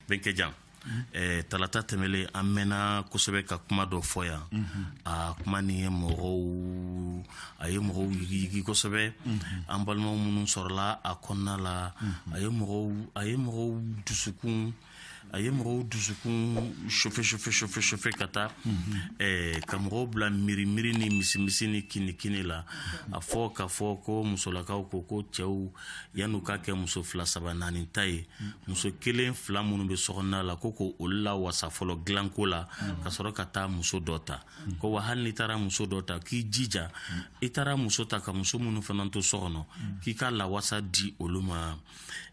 bɛnkɛjan eh, talata tɛmɛlen an mɛnna kosɛbɛ ka kuma dɔ fɔ yan a kuma nin ye mɔgɔw a ye mɔgɔw yigiyigi kosɛbɛ an balimaw minnu sɔrɔla a kɔnɔna la a ye mɔgɔw a ye mɔgɔw dusukun a ye mɔgɔw dusukun chauffé chauffé chauffé chauffé ka taa ɛɛ ka mɔgɔw bila miiri miiri ni misimisi ni kinikini la a fɔ ka fɔ ko musolakaw ko ko cɛw yan'u ka kɛ muso fila saba naani ta ye muso kelen fila minnu bɛ sokɔnɔna la k'u k'olu lawasa fɔlɔ dilanko la ka sɔrɔ ka taa muso dɔ ta ko wa hali n'i taara muso dɔ ta k'i jija i taara muso ta ka muso minnu fana to so kɔnɔ k'i ka lawasa di olu ma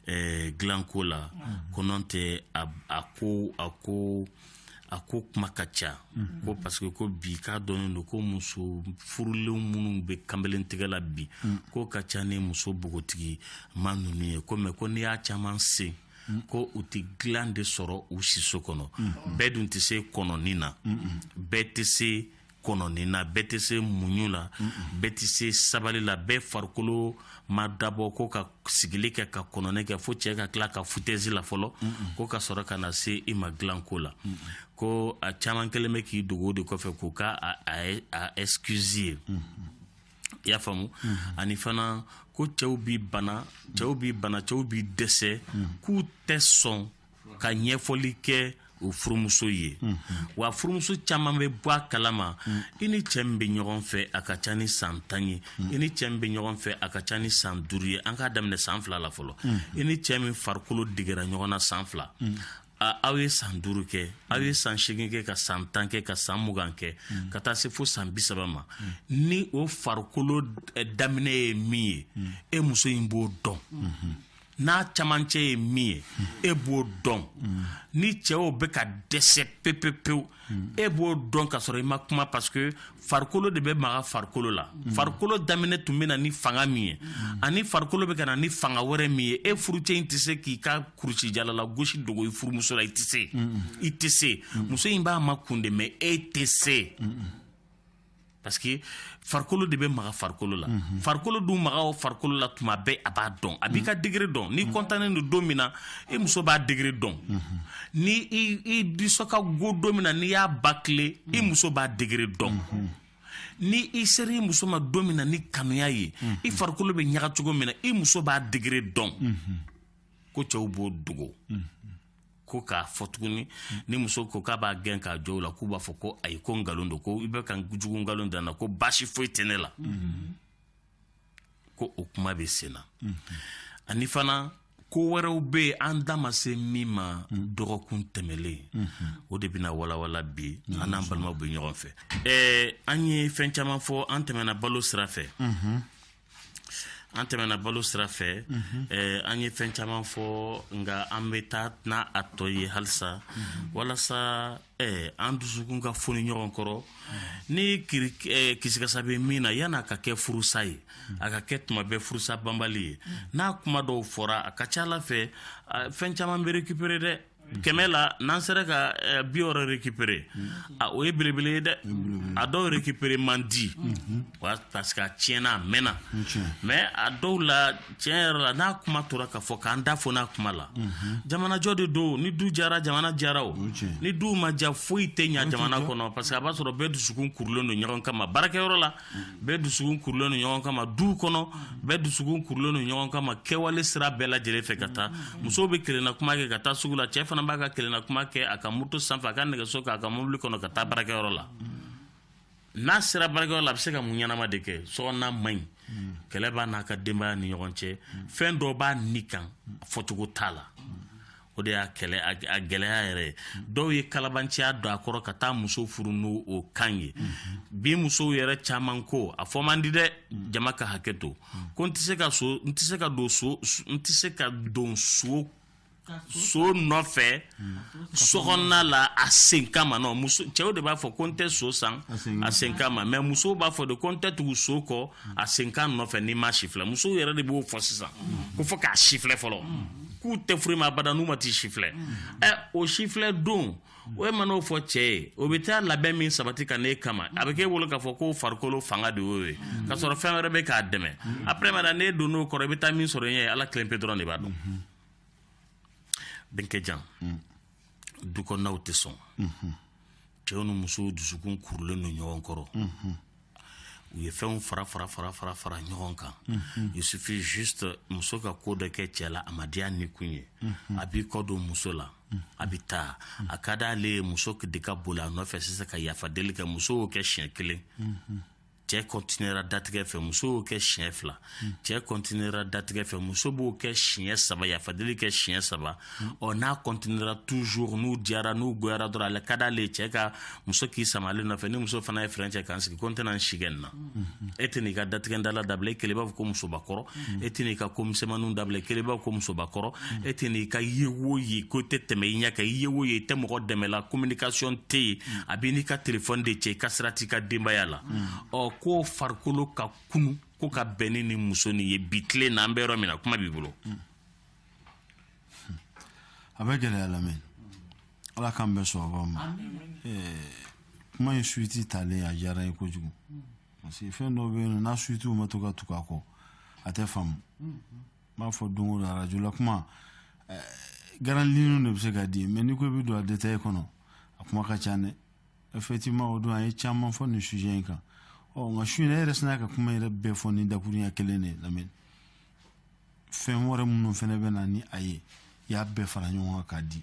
eh, dilanko la mm-hmm. ko nɔntɛ a, a ko a ko a ko kuma ka ca mm -hmm. ko parce que ko bi k'a dɔnnen don ko muso furulenw minnu bɛ kanbelen tigɛ la bi mm -hmm. k'u ka ca ni muso bogotigima ninnu ye ko mais ko n'i y'a caman sen ko u tɛ dilan de sɔrɔ u siso kɔnɔ bɛɛ dun tɛ se kɔnɔni na bɛɛ tɛ se kɔnɔni na bɛɛ tɛ se muɲu la bɛɛ tɛ se sabali la bɛɛ farikolo ma dabɔ ko ka sigili kɛ ka kɔnɔni kɛ fo cɛɛ ka tila ka foutaise la fɔlɔ ko ka sɔrɔ ka na se i ma dilanko la ko a caman kɛlen bɛ k'i dogo de kɔfɛ k'u ka a excuse ye i y'a faamu ani fana ko cɛw bi bana cɛw bi bana cɛw bi dɛsɛ k'u tɛ sɔn ka ɲɛfɔli kɛ o furumuso ye wa furumuso caman bɛ bɔ a kalama i ni cɛ min bɛ ɲɔgɔn fɛ a ka ca ni san tan ye i ni cɛ min bɛ ɲɔgɔn fɛ a ka ca ni san duuru ye an k'a daminɛ san fila la fɔlɔ i ni cɛ min farikolo degera ɲɔgɔn na san fila a- aw ye san duuru kɛ aw ye san seegin kɛ ka san tan kɛ ka san mugan kɛ ka taa se fo san bi saba ma ni o farikolo eh, daminɛ ye min ye e muso in b'o dɔn n'a camancɛ ye min ye e b'o dɔn ni cɛw bɛ ka dɛsɛ pepepewu e b'o dɔn ka sɔrɔ i ma kuma parce que farikolo de bɛ maga farikolo la farikolo daminɛ tun bɛ na ni fanga min ye ani farikolo bɛ ka na ni fanga wɛrɛ min ye e furucɛ in tɛ se k'i ka kurusijala lagosi dogo i furumuso la i tɛ se i tɛ se muso in b'a makun de mais e tɛ se parce que farikolo de bɛ maga farikolo la farikolo dun maga o farikolo la tuma bɛɛ a b'a dɔn a b'i ka degré dɔn n'i kɔntannen don don min na i muso b'a degré dɔn ni i disɔ ka go don min na n'i y'a ba tile i muso b'a degré dɔn ni i sera i muso ma don min na ni kanuya ye i farikolo bɛ ɲaga cogo min na i muso b'a degré dɔn ko cɛw b'o dogo ko k'a fɔ tuguni ni muso ko k'a b'a gɛn k'a jɔ la k'u b'a fɔ ko ayi ko nkalon don ko i bɛ ka jugu nkalon dan na ko baasi foyi tɛ ne la ko o kuma bɛ sen na ani fana ko wɛrɛw bɛ yen an da ma se min ma dɔgɔkun tɛmɛlen o de bɛna walawala bi an n'an balimaw bɛ ɲɔgɔn fɛ ɛɛ an ye fɛn caman fɔ an tɛmɛna balo sira fɛ an tɛmɛna balo sira fɛ an ye fɛn caman fɔ nka an bɛ taa n'a tɔ ye halisa walasa an dusukun ka foni ɲɔgɔn kɔrɔ ni kisikasa bɛ min na yan a ka kɛ furusa ye a ka kɛ tuma bɛɛ furusa banbali ye n'a kuma dɔw fɔra a ka ca a la fɛn fɛn caman bɛ récupérer dɛ kɛmɛ la n'an sera ka eh, bi wɔɔrɔ récupérer a o ye belebele ye dɛ a dɔw récupérer man di wa parce que a tiɲɛna a mɛnna mais a dɔw la tiɲɛ yɛrɛ la n'a kuma tora ka fɔ k'an da fo n'a kuma la jamanajɔ de don ni du diyara jamana diyara o ni du ma diya foyi tɛ ɲa jamana kɔnɔ parce que a b'a sɔrɔ bɛɛ dusukun kurulen don ɲɔgɔn kama baarakɛyɔrɔ la bɛɛ dusukun kurulen don ɲɔgɔn kama du kɔnɔ bɛɛ dusukun kurulen don ɲɔgɔn kama kɛwale sira bɛɛ lajɛlen fɛ ka taa muso bɛ kelenna kuma kɛ ka taa sugu la cɛ fana b'a ka kelenna kuma kɛ a ka moto sanfɛ a ka nɛgɛso k'a ka mobili kɔnɔ ka taa baarakɛyɔrɔ la n'a sera baarakɛyɔrɔ la a bɛ se ka mun ɲɛnama de kɛ sokɔnɔna man ɲi kɛlɛ b'a n'a ka denbaya ni ɲɔgɔn cɛ fɛn dɔ b'a ni kan a fɔcogo t'a la o de y'a kɛlɛ a gɛlɛya yɛrɛ ye dɔw ye kalabanciya don a kɔrɔ ka taa muso furu n'o o kan ye bi musow yɛrɛ caman ko a fɔ man di dɛ jama ka hakɛ to ko n tɛ se ka so n tɛ se ka don so n tɛ se ka don so so nɔfɛ sokɔnɔna la a senkan ma nɔ muso cɛw de b'a fɔ ko n tɛ so san a senkan ma mais musow b'a fɔ de ko n tɛ tugu so kɔ a senkan nɔfɛ n'i m'a sifilɛ musow yɛrɛ de b'o fɔ sisan ko fo k'a sifilɛ fɔlɔ k'u tɛ furu i ma abada n'u ma t'i sifilɛ ɛ o sifilɛ don o e man'o fɔ cɛ ye o bɛ taa labɛn min sabati ka n'e kama a bɛ k'e bolo k'a fɔ ko farikolo fanga de y'o ye k'a sɔrɔ fɛn wɛrɛ bɛ k'a dɛmɛ après mana n'e don n'o kɔrɔ i bɛ taa min sɔrɔ i ɲɛ ala kelen pe dɔrɔn de b'a dɔn bɛnkɛ jan du kɔnɔnaw tɛ sɔn cɛw ni musow dusukun kurulen don ɲɔgɔn kɔrɔ u ye fɛnw fara fara fara fara fara ɲɔgɔn kan il suffit juste muso ka ko dɔ kɛ cɛ la a ma diya ni kun ye a b'i kɔ don muso la a bɛ taa a ka d'ale ye muso de ka boli a nɔfɛ sisan ka yafa deli kɛ muso y'o kɛ siɲɛ kelen cɛ kɔntinera datigɛ fɛ muso y'o kɛ siɲɛ fila hmm. cɛ kɔntinera datigɛ fɛ muso b'o kɛ siɲɛ saba yafadeli kɛ siɲɛ saba hmm. ɔ n'a kɔntinera toujours n'u diyara n'u goyara dɔrɔn a ka d'ale ye cɛ ka muso k'i sama ale nɔfɛ ni muso fana ye fɛrɛn cɛ k'an sigi ko n tɛna n si kɛ nin na hmm, e tɛn'i ka datigɛ dala dabila e kelen i b'a fɔ ko musobakɔrɔ e tɛ n'i ka ko misɛnmaninw dabila i kɛlen b'i ko musobakɔrɔ e tɛ n'i ka ye wo ye ko tɛ tɛmɛ i ɲɛ kan i ye wo ye i tɛ mɔgɔ dɛmɛla communication tɛ yen a b'i n'i ka telefɔni de cɛ i ka sira t'i ka denbaya la ɔ ko farikolo ka kunun ko ka bɛn ni nin muso nin ye bi tile na an bɛ yɔrɔ min na kuma b'i bolo a bɛ gɛlɛya lamini ala k'an bɛɛ sɔn a ma kuma in suiti talen a diyara n ye kojugu parce que fɛn dɔ bɛ yen nɔ n'a suiti ma ta ka tugu a kɔ a tɛ faamu n b'a fɔ don o don arajo la kuma grandes lignes de bɛ se ka di mɛ n'i ko i bɛ don a detaye kɔnɔ a kuma ka ca dɛ effectivement o don an ye caman fɔ nin sujet in kan ɔ nka su in e yɛrɛ sinna ka kuma yɛrɛ bɛɛ fɔ ni dakurunya kelen de ye lamini fɛn wɛrɛ minnu fana bɛ na ni a ye i y'a bɛɛ fara ɲɔgɔn kan k'a di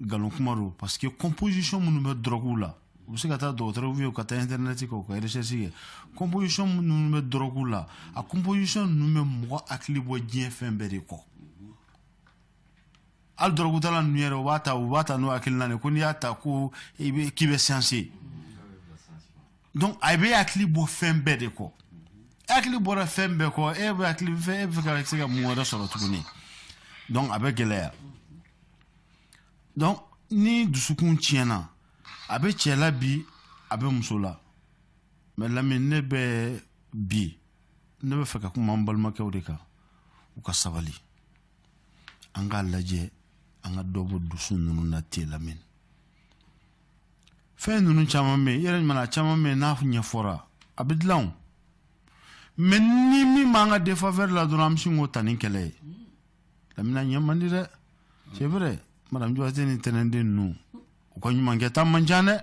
nkalon kuma don parce que composition minnu bɛ dɔrɔguw la u bɛ se ka taa dɔgɔtɔrɔw ye u ka taa internet kan u ka recherche kɛ composition minnu bɛ dɔrɔguw la a composition ninnu bɛ mɔgɔ hakili bɔ diɲɛ fɛn bɛɛ de kɔ hali dɔrɔgutala ninnu yɛrɛ u b'a ta u b'a ta n'o hakilina de ko n'i y'a ta ko i bɛ k'i bɛ siyansi ye donc a bɛ hakili bɔ fɛn bɛɛ de kɔ hakili bɔra fɛn bɛɛ kɔ e bɛ hakili fɛn e bɛ fɛ ka se ka mun wɛrɛ sɔrɔ tuguni donc a bɛ gɛlɛya. donc ni dusukun tiɲɛna a bɛ cɛ la bi a bɛ muso la mɛ lamini ne bɛ bi ne bɛ fɛ ka kuma an balimakɛw de kan u ka sabali an k'a lajɛ an ka dɔ bɔ dusu ninnu na te lamini fɛn ninnu caman bɛ yen vraiment a caman bɛ yen n'a ɲɛfɔra a bɛ dilan o mɛ ni min b'an ka défaveur la dɔrɔn an bɛ sin k'o ta ni kɛlɛ ye lamini a man di dɛ c'est vrai madame Joise ni tɛnɛnden ninnu u ka ɲumankɛta man ca dɛ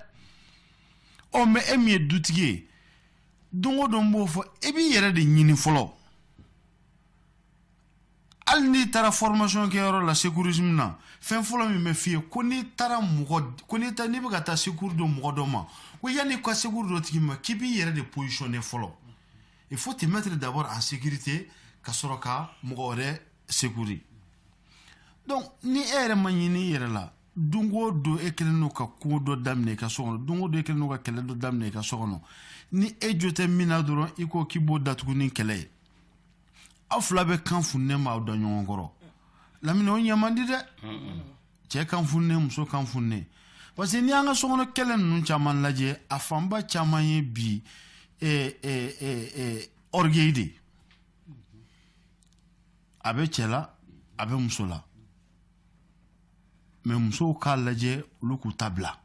ɔ mɛ e min ye dutigi ye don o don n b'o fɔ e b'i yɛrɛ de ɲini fɔlɔ hali n'i taara formation kɛyɔrɔ la secourisme na fɛn fɔlɔ min bɛ f'i ye ko n'i taara mɔgɔ ko n'i taara n'i bɛ ka taa secours don mɔgɔ dɔ ma ko yanni i ka secours don o tigi ma k'i b'i yɛrɛ de positionner fɔlɔ il faut te mettre d'abord en sécurité ka sɔrɔ ka mɔgɔ wɛrɛ secourir donc ni e yɛrɛ ma ɲini i yɛrɛ la don o don e kɛlen don ka ko dɔ daminɛ i ka so kɔnɔ don o don e kɛlen don ka kɛlɛ dɔ daminɛ i ka so kɔnɔ ni e jo tɛ min na dɔrɔn i ko k'i b'o datugu ni kɛlɛ ye aw fila bɛɛ kan fununen b'aw da ɲɔgɔn kɔrɔ lamini o ɲɛ man di dɛ cɛɛ kan fununen muso kan fununen parce que n'i y'an ka sokɔnɔ kɛlɛ ninnu caman lajɛ a fanba caman ye bi orgueil de ye a bɛ cɛ la a bɛ muso la mais musow k'a lajɛ olu k'u ta bila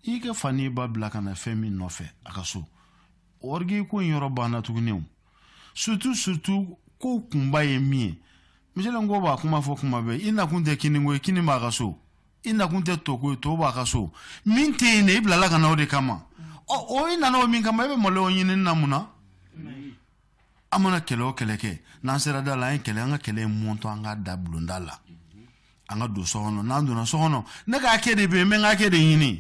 i ka fa n'i ba bila ka na fɛn min nɔfɛ a ka so orgueil ko in yɔrɔ banna tuguni o surtout surtout ko kunba ye min ye misalen ko b'a kuma fɔ kuma bɛɛ i nakun tɛ kini ko ye kini b'a ka so i nakun tɛ to ko ye to b'a ka so min tɛ yen dɛ i bilala ka na o de kama ɔ o i nana o min kama i bɛ maloya o ɲinini na mun na an mana kɛlɛ o kɛlɛ kɛ n'an sera da la an ye kɛlɛ an ka kɛlɛ in mɔntɔ an ka da bulonda la an ka don so kɔnɔ n'an donna so kɔnɔ ne ka hakɛ de bɛ yen n bɛ n ka hakɛ de ɲini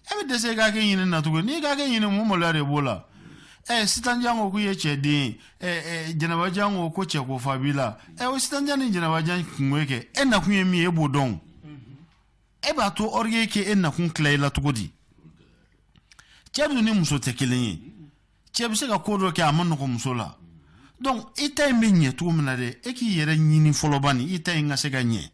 e bɛ dɛsɛ i ka hakɛ ɲini na tugun n'i ka hakɛ ɲini mun maloya de b'o la ɛ sitanjan ko k'u ye cɛ den ɛ ɛ jɛnɛbajan ko ko cɛko fa b'i la ɛ o sitanjan ni jɛnɛbajan kunko ye kɛ e nakun ye min ye e b'o dɔn e b'a to orgueil ka e nakun tila i la cogo di cɛ dun ni muso tɛ kelen ye cɛ bɛ se ka ko dɔ kɛ a man nɔgɔ muso la donc i ta in bɛ ɲɛ cogo min na dɛ e k'i yɛrɛ ɲini fɔlɔ bani i ta in ka se ka ɲɛ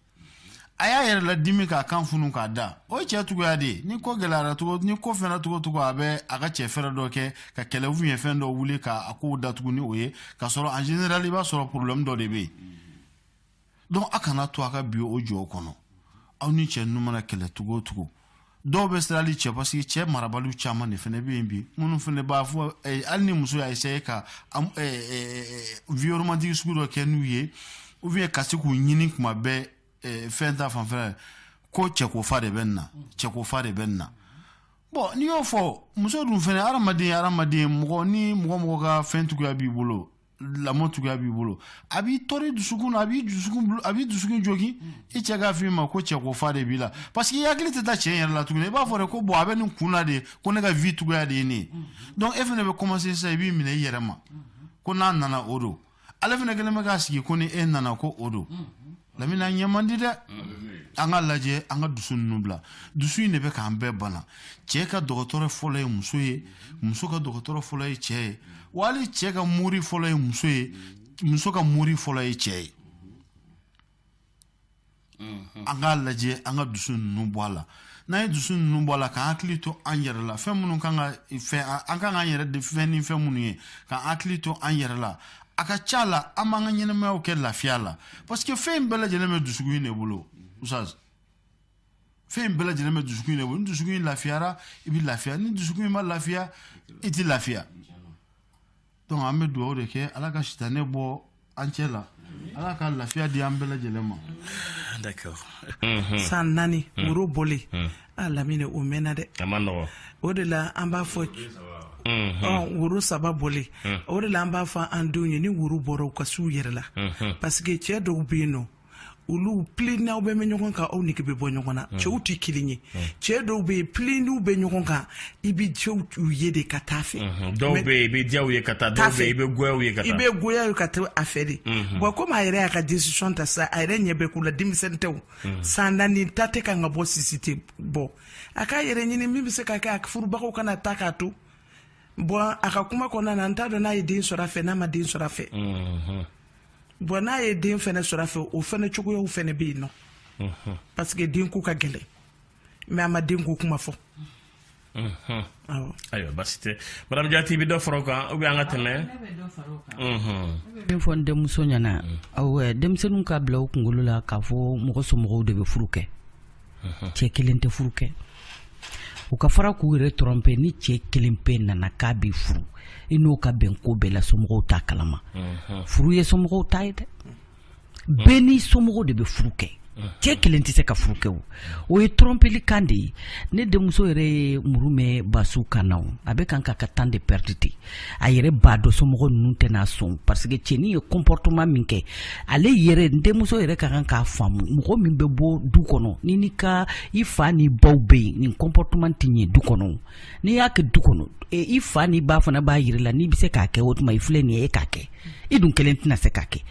a y'a yɛrɛ ladimi k'a kan funu k'a da o ye cɛ cogoya de ye ni ko gɛlɛyara cogo ni ko fɛnna cogo cogo a bɛ a ka cɛ fɛɛrɛ dɔ kɛ ka kɛlɛ u ye fɛn dɔ wuli k'a kow datugu ni o ye k'a sɔrɔ en général i b'a sɔrɔ problème dɔ de bɛ yen donc a kana to a ka bin o jɔ kɔnɔ aw ni cɛ ninnu mana kɛlɛ cogo o cogo dɔw bɛ sirali cɛ parce que cɛ marabaliw caman de fana bɛ yen bi minnu fana b'a fɔ eh, hali ni muso y'a essayer ka eh, eh, vie romantique sugu dɔ kɛ n'u ye ou bien ka se k'u ɲini kuma bɛɛ fɛn ta fanfɛla ko cɛko fa de bɛ nin na cɛko fa de bɛ nin na bon n'i y'o fɔ muso dun fana hadamaden hadamaden mɔgɔ ni mɔgɔ mɔgɔ ka fɛn tuguya b'i bolo lamɔ tuguya b'i bolo a b'i tɔɔrɔ dusukun na a b'i dusukun a b'i dusukun jogin i cɛ k'a f'i ma ko cɛko fa de b'i la parce que i hakili tɛ taa cɛ yɛrɛ la tuguni i b'a fɔ de ko bon a bɛ nin kun na de ko ne ka vie tuguya de ye ne ye donc e fana bɛ commencer sisan i b'i minɛ i yɛrɛ ma ko n'a nana o don ale fana kɛlen bɛ k'a sigi ko ni e nana ko o don lamini an ɲɛ man di dɛ an k'a lajɛ an ka dusu ninnu bila dusu in de bɛ k'an bɛɛ bana cɛ ka dɔgɔtɔrɔ fɔlɔ ye muso ye muso ka dɔgɔtɔrɔ fɔlɔ ye cɛ ye wa hali cɛ ka mori fɔlɔ ye muso ye muso ka mori fɔlɔ ye cɛ ye an k'a lajɛ an ka dusu ninnu bɔ a la n'an ye dusu ninnu bɔ a la k'an hakili to an yɛrɛ la fɛn minnu kan ka fɛn an kan k'an yɛrɛ de fɛn ni fɛn minnu ye k'an hakili to an yɛrɛ la a ka ca la an b'an ka ɲɛnamayaw kɛ lafiya la parce que fɛn in bɛɛ lajɛlen bɛ dusukun in de bolo ustaz fɛn in bɛɛ lajɛlen bɛ dusukun in de bolo ni dusukun in lafiyara i bɛ lafiya ni dusukun in ma lafiya i tɛ lafiya donc an bɛ dugawu de kɛ ala ka sitanɛ bɔ an cɛ la ala ka lafiya di an bɛɛ lajɛlen ma d'accord san naani woro bɔlen A lamini o mɛnna dɛ o de la an b'a fɔ woro saba bɔ o de la an b'a fɔ an denw ye ni woro bɔra u ka su yɛrɛ la parce que cɛ dɔw bɛ yen nɔ olu p n'aw bɛ bɛ ɲɔgɔn kan aw nege bɛ bɔ ɲɔgɔn na cɛw tɛ kelen ye cɛ dɔw bɛ yen p n'u bɛ ɲɔgɔn kan i bɛ cɛw ye de ka taa fɛ dɔw i bɛ ye ka taa taa fɛ i bɛ ye i bɛ gya ye ka to a fɛ de wa ko a yɛrɛ y'a ka décision ta sa a yɛrɛ ɲɛ bɛɛ k'u la denmisɛnnin tɛ Mm. san naani ta tɛ ka ka bɔ sisi tɛ bɔ a k'a yɛrɛ ɲini min bɛ se ka kɛ a furubagaw kana taa k'a to bon a ka kuma kɔnɔna na n t'a dɔn n'a ye den sɔrɔ a fɛ n'a ma den sɔrɔ a fɛ mm-hmm. bon n'a ye den fɛnɛ sɔrɔ a fɛ o fɛnɛ cogoyaw fɛnɛ bɛ yen nɔ mm-hmm. parce que den ko ka gɛlɛn mais a ma den ko kuma fɔ ayiwa basi tɛ madame jati i bɛ dɔ fara o kan ou bien an ka tɛmɛ min fɔ n denmuso ɲɛna awɔ denmisɛnninw k'a bila u kunkolo la k'a fɔ mɔgɔ somɔgɔw de bɛ furu kɛ cɛ kelen tɛ furu kɛ u ka fara k'u yɛrɛ tromper ni cɛ kelen pe nana k'a b'i furu i n'o ka bɛn ko bɛɛ la somɔgɔw t'a kalama furu ye somɔgɔw ta ye dɛ bɛɛ n'i somɔgɔw de bɛ furu kɛ cɛ kelen tɛ se ka furu kɛ o o ye trɔnpeli kan de ye ne denmuso yɛrɛ ye muru mɛn basiw kan na a bɛ kan ka ka temps de pɛridi a yɛrɛ b'a dɔn somɔgɔ ninnu tɛna sɔn parce que cɛnin ye comportement min kɛ ale yɛrɛ n denmuso yɛrɛ ka kan k'a faamu mɔgɔ min bɛ bɔ du kɔnɔ ni ni ka i fa ni baw bɛ yen nin comportement tɛ ye du kɔnɔ n'i y'a kɛ du kɔnɔ i fa ni ba fana b'a jira la n'i bɛ se k'a kɛ o tuma i filɛ nin ye e k'a kɛ i dun kelen tɛna se k'a kɛ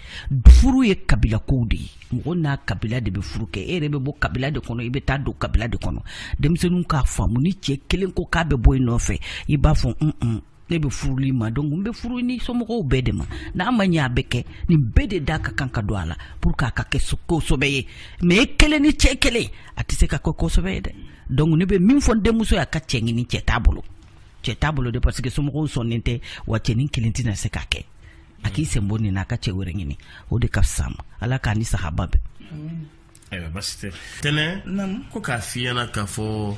furu ye kabila ko de ye mɔgɔ n'a kabila de bɛ furu kɛ e yɛrɛ bɛ bɔ kabila de kɔnɔ i bɛ taa don kabila de kɔnɔ denmisɛnninw k'a faamu ni cɛ kelen ko k'a bɛ bɔ i nɔfɛ i b'a fɔ un un ne bɛ furu i ma donc n bɛ furu ni somɔgɔw bɛɛ de ma n'a ma ɲɛ a bɛ kɛ nin bɛɛ de da ka kan ka don a la pour que a ka kɛ ko sɛbɛ ye mais e kelen ni cɛ kelen a tɛ se ka kɛ ko sɛbɛ ye dɛ donc ne bɛ min fɔ n denmuso ye a ka cɛ ɲini cɛ t'a bolo cɛ t'a bolo de parce que somɔgɔw sɔnnen tɛ wa cɛnin kelen tɛna se k'a kɛ a k'i sen bɔ nin na a ka cɛ wɛrɛ ɲini o de ka fisa a ma ala k'a ni sahaba bɛn ayiwa basi tɛ tɛnɛ ko k'a f'i ɲɛna k'a fɔ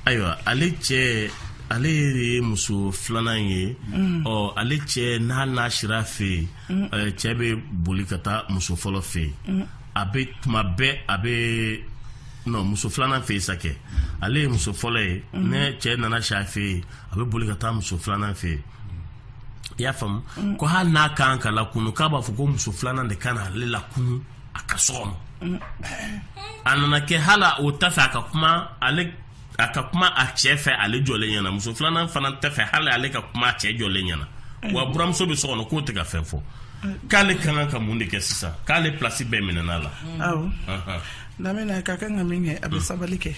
ayiwa ale cɛ ale de ye muso filanan ye mm. ɔ ale cɛ n'a n'a sira a fɛ yen mm. cɛ bɛ boli ka taa muso fɔlɔ fɛ yen mm. a bɛ tuma bɛɛ a bɛ nɔ muso filanan fɛ yen sa kɛ ale ye muso fɔlɔ ye mhm. ni cɛ nana si a fɛ yen a bɛ boli ka taa muso filanan fɛ yen i y'a faamu mhm. ko hali n'a kan k'a lakunu k'a b'a fɔ ko muso filanan de ka na ale lakunu a ka so kɔnɔ mhm. a nana kɛ hali o t'a fɛ a ka kuma ale a ka kuma a cɛ fɛ ale jɔlen ɲɛna muso filanan fana t'a fɛ hali ale ka kuma a cɛ jɔlen ɲɛna wa buramuso bɛ so kɔnɔ k'o tɛ ka fɛn fɔ k'ale ka kan ka mun de kɛ sisan k'ale pilasi bɛɛ minɛna la awɔ lamɛnna ka kan ka min kɛ a bɛ sabali kɛ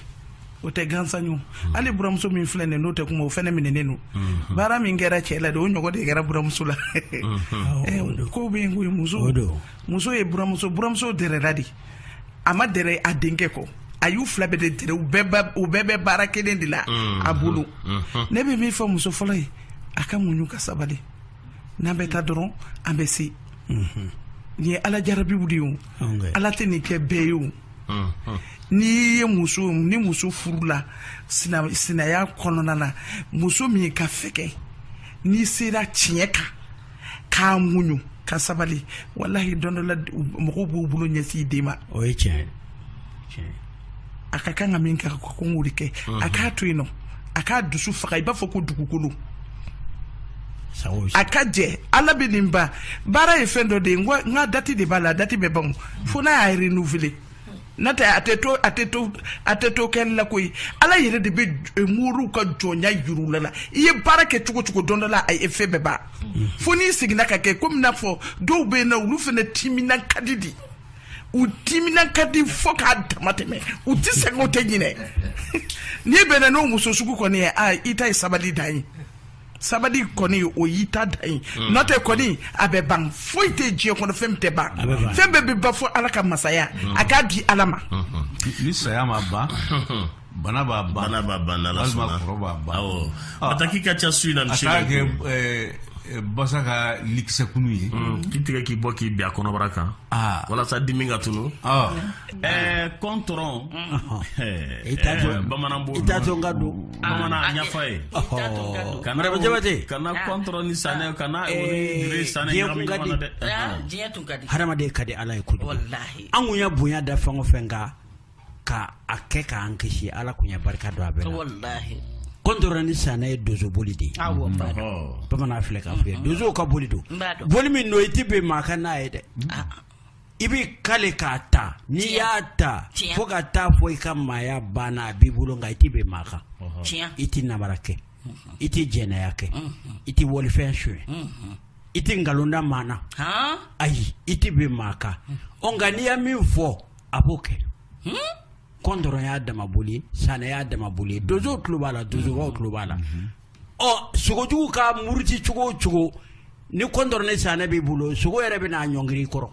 o tɛ gansan ye o. hali buramuso min filɛ nin ye n'o tɛ kuma o fɛnɛ minɛnen don baara min kɛra cɛ la de o ɲɔgɔn de kɛra buramuso la Eh, kow bɛ yen koyi muso muso ye buramuso buramuso dɛrɛla de a ma dɛrɛ a denkɛ kɔ a y'u fila bɛɛ de dɛrɛ u bɛɛ ba- u bɛɛ bɛ baara kelen de la Mhm. a bolo Mhm. ne bɛ min fɔ muso fɔlɔ ye a ka muɲu ka sabali n'an bɛ taa dɔrɔn an bɛ se nin ye ala jarabiw de ye o Ɔnkɛ. ala tɛ nin kɛ bɛɛ ye o Mhm. n'i ye muso ni muso furula sina- sinaya kɔnɔna na muso min ka fɛkɛ n'i sera tiɲɛ kan k'a muɲu ka sabali walahi don dɔ la mɔgɔw b'u bolo ɲɛsin i de ma o ye tiɲɛ ye a ka kan ka min kɛ ko n k'o de kɛ a k'a to yen nɔ a k'a dusu faga i b'a fɔ ko dugukolo a ka jɛ ala bɛ nin ba baara ye fɛn dɔ de ye nka dati de b'a la dati bɛ ban fo n'a y'a renouveler n'a tɛ a tɛ to a tɛ to a tɛ to kɛli la koyi ala yɛrɛ de bɛ eh, moriw ka jɔnya yir'u la la i ye baara kɛ cogo cogo don dɔ la a effet bɛ ban fo n'i seginna k'a kɛ komi n y'a fɔ dɔw bɛ yen na olu fana timinan ka di de u timinan ka di fo k'a dama tɛmɛ u tɛ sɛgɛn u tɛ ɲinɛ n'i bɛnna n'o muso sugu kɔni ye a i ta ye sabali dan ye sabali kɔni o y'i ta dan ye hmm. n'o tɛ kɔni a bɛ ban foyi tɛ diɲɛ kɔnɔ fɛn min tɛ ban fɛn bɛɛ bɛ ban fo ala ka masaya hmm. a k'a di ala ma hmm. ni saya m'a ban bana b'a ban bana b'a ban ala sɔnna walima kɔrɔ b'a ban awɔ ah. bataki ka ca su in na misi a k'a kɛ eh, eh, basa ka likisɛkunu ye k'i tigɛ k'i bɔ k'i bin a kɔnɔbara kan ah. walasa dimi ka tunu ah. Ɛɛ kɔntɔrɔn i ka don bamananfa ye kabajate kana kɔn ni san kana san hadamaden ka di ala ye ko an ye bonya da fɛn o fɛn kan ka a kɛ k'an kisi ala tun ye barika don a bɛɛ la kɔntɔrɔn ni sanɛ ye donso boli de ye bamanan filɛ ka fɔ ye donso ka boli don boli min don i tɛ bin maa kan n'a ye dɛ i b'i kali k'a ta n'i y'a ta fo ka taa fɔ i ka maaya banna a b'i bolo nka i tɛ bin maa kan i tɛ namara kɛ i tɛ jɛnɛya kɛ i tɛ walifɛn su i tɛ nkalon da maa na ayi i tɛ bin maa kan ɔ nka n'i ye min fɔ a b'o kɛ kɔntɔrɔn y'a dama boli sanɛ y'a dama boli donso tulo b'a la donsobaw tulo b'a la ɔ sogojugu ka muruti cogo o cogo ni kɔntɔrɔn ni sanɛ b'i bolo sogo yɛrɛ bɛ na ɲɔngiri kɔrɔ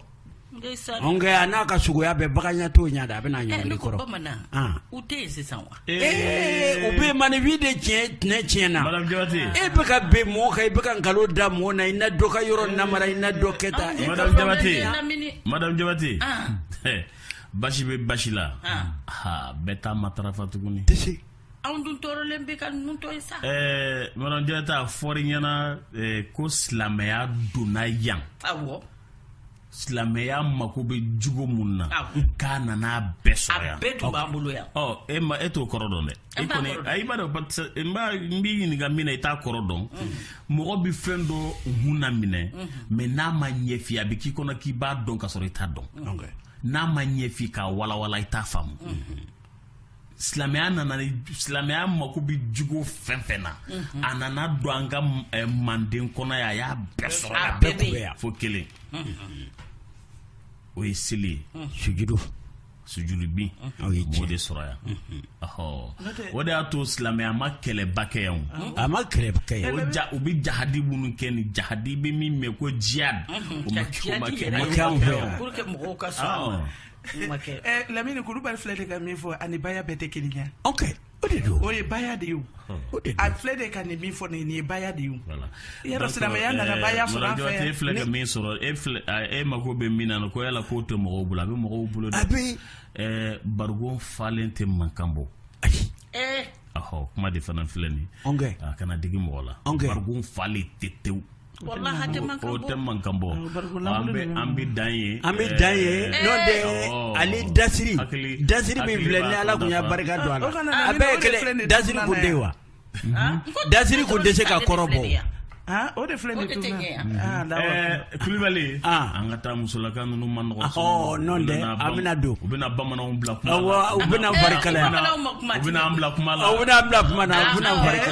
a n'a ka sogoya bɛɛ bagan to ɲa a bɛ ɲɔngiri kɔrɔ u tɛ yen sisan wa ee u bɛ maaninfin de tiɲɛ tɛnɛ tiɲɛna e bɛ ka bin mɔgɔ kan i bɛ ka nkalon da mɔgɔ na i na dɔ ka yɔrɔ namara i na dɔ kɛ tan jabate basi bɛ basi la bɛɛ taa ma taararafa tuguni tɛ anw dun tɔɔrɔlen bɛ ka ninnu tɔ ye sa ɛɛ mɔnɔjɛ ta fɔri ɲɛna ɛɛ ko silamɛya donna yan awɔ silamɛya mako bɛ jogo min na k'a nana a bɛɛ sɔrɔ yan a bɛɛ tun b'an bolo yan ɔ e ma e t'o kɔrɔ dɔn dɛ e kɔni ayi b'a dɔn n b'a n b'i ɲininka min na i t'a kɔrɔ dɔn mɔgɔ bɛ fɛn dɔ hun na minɛ mɛ n'a ma ɲɛfɔ a bɛ k'i kɔnɔ k'i b'a dɔn ka sɔrɔ i t'a dɔn n'a ma ɲɛfɔ k'a walawala i t'a faamu silamɛya nana silamɛya mako bɛ jogo fɛn fɛn na mhm. a nana don an ka eh, manden kɔnɔ yan a y'a bɛɛ sɔrɔ a bɛɛ tun bɛ yan fo kelen mhm. o ye seli ye mhm. sujudu sujudu bin o ye diɲɛ de sɔrɔ yan o de y'a to silamɛya ma kɛlɛba kɛ yan o a ma kɛlɛba kɛ yan o ja u bɛ jahadi minnu kɛ ni jahadi bɛ min mɛ ko jihad o ma kɛ o ma kɛ anw fɛ yan. lamini kulubali filɛ de ka min fɔ a ni baya bɛɛ tɛ kelen ye o ye baya de ye a filɛ de ka nin min fɔ nin ye baya de ye yɔrɔ silamɛya nana ba sɔrɔ fɛ e filɛ ka min sɔrɔ e e mako bɛ min na ko yala k'o tɛ mɔgɔw bolo a bɛ mɔgɔw bolo dɛ barikon falen tɛ mankan bɔ ayi kuma de fana filɛ nin a kana digi mɔgɔ la barikon falen tɛ tewu tɛ man kan bɔ an bɛ dan ye an bɛ dan ye ale dasiri dasiri bɛ filɛ ni ala bonya barika don a a bɛɛ kelen dasiri ko den wa dasiri ko dɛsɛse ka kɔrɔ bɔ o de filɛ kulubali an ka taa musolaka ninnu man nɔgɔ an bɛna don u bɛna bamananw bila kuma u bɛna barika u bɛna bila kuma la u bɛna bila kuma na u bɛna barika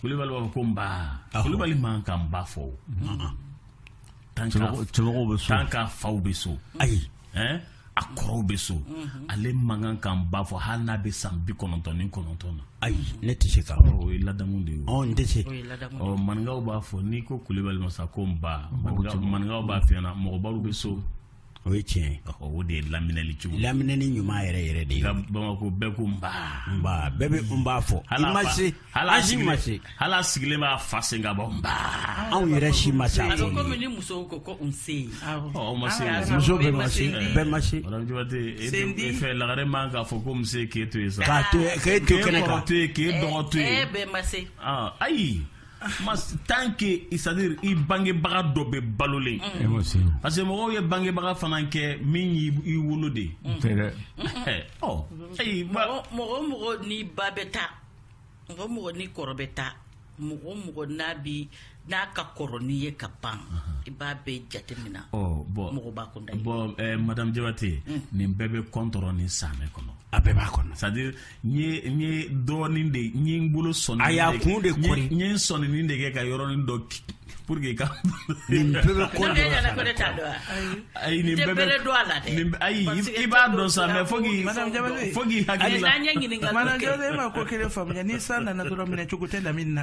kulubali b'a fɔ ko nba kulubali man ka nba fɔ o tan ka faw bɛ so ayi a kɔrɔw bɛ so mhm. ale man kan ka nba fɔ hali n'a bɛ san bi kɔnɔntɔn ni kɔnɔntɔn na ayi ne tɛ se ka o ye ladamu de ye ɔ n tɛ se ɔ maninkaw b'a fɔ n'i ko kulubali ma sa ko nba maninkaw b'a f'i ɲɛna mɔgɔbaw bɛ so o ye tiɲɛ o de ye laminɛli cogo laminɛni ɲuman yɛrɛ yɛrɛ de ye bamakɔ bɛɛ ko nba nba bɛɛ bɛ nba fɔ i ma se an si ma se hali sigilen b'a fa sen ka bɔ nba anw yɛrɛ si ma se a fɔ komi ni musow ko ko nse ɔ ma se muso bɛɛ ma se bɛɛ ma se jɔte e fɛ lagare man k'a fɔ ko nse k'e to yen sa k'a to k'e to kɛnɛ kan k'e dɔgɔ to yen bɛɛ ma se ayi Mais tant que c'est à dire i bangebaga dɔ bɛ balolen parce que mɔgɔw ye bangebaga fana kɛ min y'i wolo de ye ɔ ayi mɔgɔ mɔgɔ n'i ba bɛ taa mɔgɔ mɔgɔ n'i kɔrɔ bɛ taa mɔgɔ mɔgɔ n'a bi n'a ka kɔrɔ n'i ye ka ban i b'a bɛɛ jateminɛ bon mɔgɔ b'a kun bon madame jabate nin bɛɛ bɛ kɔntɔrɔ ni sanɛ kɔnɔ a bɛɛ b'a kɔnɔ c'est à dire n ye n ye dɔɔnin de n ye n bolo sɔnin a y'a kun de kɔri n ye n sɔnin de kɛ ka yɔrɔnin dɔ pour que ka nin bɛɛ bɛ ko dɔ la ayi nin bɛɛ bɛ dɔ a la dɛ ayi i b'a dɔn sa mais fo k'i fo k'i hakili la madame Jabate e ma ko kelen faamuya ni san nana dɔrɔn minɛ cogo tɛ lamini na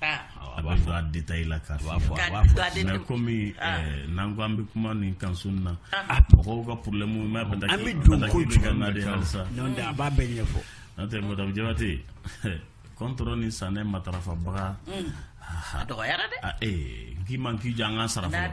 a b'a fɔ a détail la k'a b'a fɔ a b'a fɔ mais komi n'an ko an bɛ kuma nin kan su in na mɔgɔw ka porolɛmu n'a bɛ an bɛ don ko jumɛn na de halisa a b'a bɛɛ ɲɛfɔ n'o tɛ madame jabate kɔntɔrɔ ni sanɛ matarafabaga a dɔgɔyara dɛ ee k'i man k'i jɔ an ka sara fɔlɔ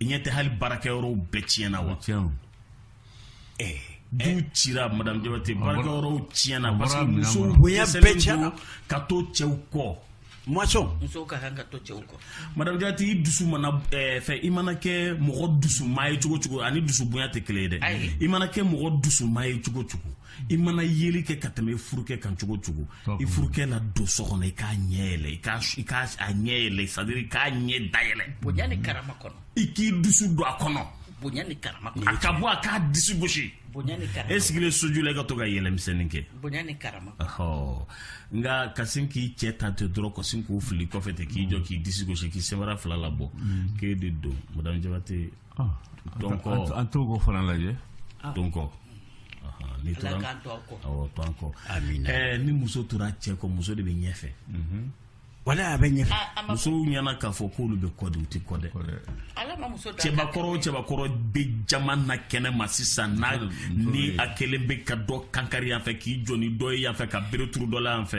i ɲɛ tɛ hali baarakɛ yɔrɔw bɛɛ tiɲɛna wa eh, du eh. cira madame Diabate baarakɛ yɔrɔw tiɲɛna parce que musow bonya bɛɛ tiɲɛna ka to cɛw kɔ masɔrɔ musow ka kan ka to cɛw kɔ madame Diabate i dusu mana eh, fɛ i mana kɛ mɔgɔ dusuma ye cogo o cogo ani dusu bonya tɛ kelen ye dɛ i mana kɛ mɔgɔ dusuma ye cogo o cogo i mana yeli kɛ ka tɛmɛ i furukɛ kan cogo o cogo i furukɛ na don so kɔnɔ i k'a ɲɛ yɛlɛ i k'a ɲɛ yɛlɛ c'est-à-dire i k'a ɲɛda yɛlɛ bonya ni karama kɔnɔ i k'i dusu don a kɔnɔ bonya ni karama kɔnɔ a ka bɔ a k'a disi gosi bonya ni karama e sigilen soju la i ka to ka yɛlɛmisɛnnin kɛ bonya ni karama ɔhɔ nka ka sin k'i cɛ ta ten dɔrɔn ka sin k'u fili kɔfɛ ten k'i jɔ k'i disi gosi k'i sɛbɛra fila labɔ mm. k'e de don madame jabate an t'o ko fana lajɛ don kɔni ni muso tora cɛ kɔ muso de bɛ ɲɛfɛ walayi a bɛ ɲɛfɛ musow ɲɛna k'a fɔ k'olu bɛ kɔ dɛ u tɛ kɔ dɛ cɛbakɔrɔ cɛbakɔrɔ bɛ jama na kɛnɛ ma sisan n'a ni a kelen bɛ ka dɔ kankari yan fɛ k'i jɔ ni dɔ ye yan fɛ ka bereturu dɔ la yan fɛ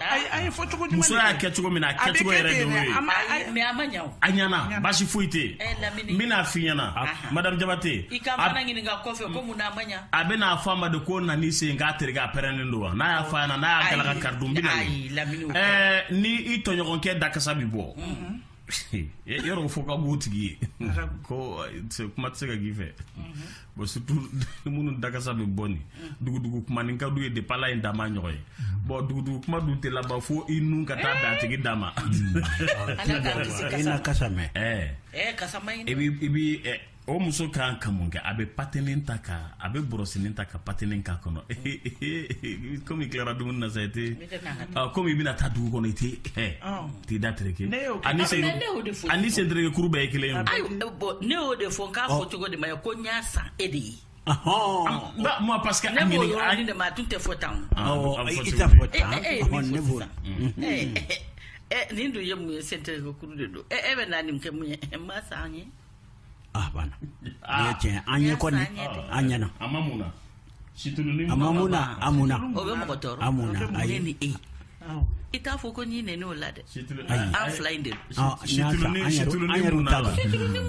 a y'a fɔ cogo jumɛn muso y'a kɛ cogo min na a kɛcogo yɛrɛ de y'o ye mais a ma ɲa o a ɲana basi foyi tɛ eh, n bɛn'a f'i ɲɛna madame jabate i ka mana ɲininka kɔfɛ ko mun na a ma ɲa a bɛna fɔ a ma de ko na ni sen k'a tereke a pɛrɛnnen don wa n'a y'a fɔ a ɲɛna n'a y'a galaka kari dun n bɛna ni i tɔɲɔgɔnkɛ dakasa bɛ bɔ mhm. yɔrɔ fo ka bu tigi ye ko kuma tɛ se ka k'i fɛ bon surtout minnu dakasa bɛ bɔ nin dugudugu kuma nin ka d'u ye depuis Ala ye n dan n m'a ɲɔgɔn ye bon dugudugu kuma dun tɛ laban fo i nun ka taa dan a tigi da ma i n'a kasa mɛn i b'i o muso ka kan ka mun kɛ a bɛ patinin ta ka a bɛ bɔrɔsinin ta ka patinin k'a kɔnɔ komi i tilara dumuni na sa i tɛ komi i bɛna taa dugu kɔnɔ i tɛ t'i da tereke ani ani sen tereke kuru bɛɛ ye kelen ye ayi bon ne y'o de fɔ nk'a fɔcogo de ma ɲɛ ko n y'a san e de ye ma parce que ne b'o yɔrɔ de ma a tun tɛ fɔ tan o i tɛ fɔ tan ne b'o la nin dun ye mun ye sen tereke kuru de don e bɛna nin kɛ mun ye n m'a san an ye ah banna ah. ye tiɲɛ an ye kɔni an ɲɛna a ma mun na situluni a ma mun na a mun na o bɛ mɔgɔ tɔɔrɔ a mun na ayi ni e i t'a fɔ ko n y'i nɛni o la dɛ an fila in de don situluni situluni mun na